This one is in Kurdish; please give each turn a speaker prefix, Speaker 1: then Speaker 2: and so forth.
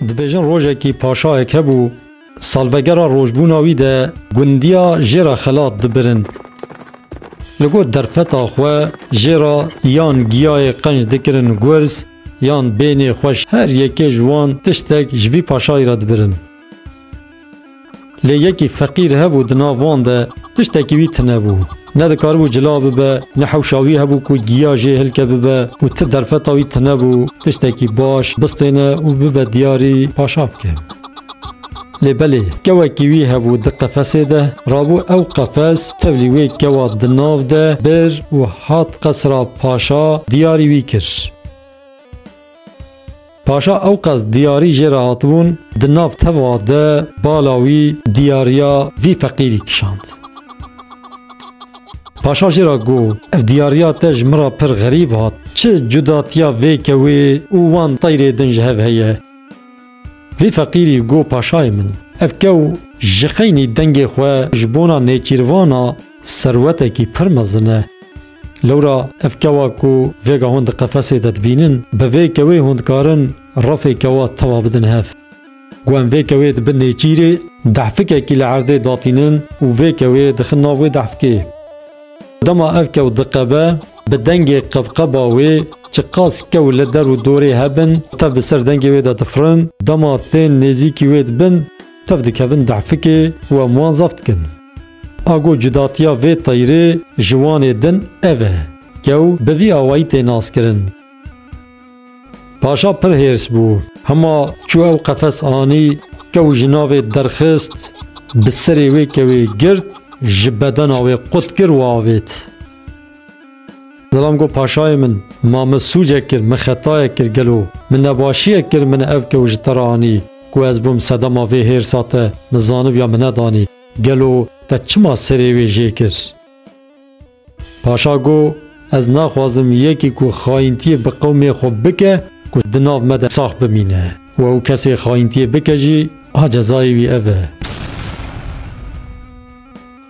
Speaker 1: Dibêjin rojekî paşayek hebû, salvegera rojbûna wî de gundiya jê re xelat dibirin. Li got derfeta xwe jê re yan giyayê qenc dikirin gurz yan bênê xweş her yekê ji wan tiştek ji vî paşayî re dibirin. Lê yekî feqîr hebû di nav wan de tiştekî wî tune bû. Ne dikaribû cila bibe, ne hewşa wî hebû ku giya jê hilke bibe û ti derfeta wî tune bû tiştekî baş bistêne û bibe diyarî paşa bike. Lê belê kewekî wî hebû di qefesê de, rabû ew qefes tevlî wê kewa di nav de bir û hat qesra paşa diyarî wî kir. Paşa ewqas diyarî jê re hatibûn, di nav teva de bala wî diyariya vî feqîrî kişand. Paşa jê re got, Ev diyariya te ji min re pir xerîb hat. Çi cudatiya vê kewê û wan teyrê din ji hev heye? Vî feqîrî got paşayê min, Ev kew ji xeynî dengê xwe ji bona nêçîrvana serwetekî pir mezin e. Lewra ev kewa ku vêga hûn di qefesê de dibînin, bi vê kewê hûn dikarin refê kewa tewa bidin hev. Ku em vê kewê di bin nêçîrê dehfikekî li erdê datînin û vê kewê dixin nav wê dehfikê. Dema ev kew diqebe, bi dengê qebqeba wê çiqas kew li der û dorê hebin tev bi ser dengê wê de difirin, dema tên nêzîkî wê dibin tev dikevin dehfikê û em wan zaf dikin. Ago cudatiya vê teyrê ji Wanê din ev e. Kew bi vî awayî tê naskirin. Paşa pir hêrs bû. Hima çû ew qefes anî, kew ji navê derxist, bi serê wê kewê girt, ji bedena wê qut kir û avêt. Zilam got, Paşayê min, ma min sûcek kir, min xetayek kir gelo? Min nebaşiyek kir min ev kew ji te re anî? Ku ez bûm sedema vê hêrsa te, min zanibiya min nedanî. Gelo te çima serê wê jê kir? Paşa got, Ez naxwazim yekî ku xayintiyê bi qewmê xwe bike ku di nav me de sax bimîne û ew kesê xayintiyê bike jî a cezayê wî ev e.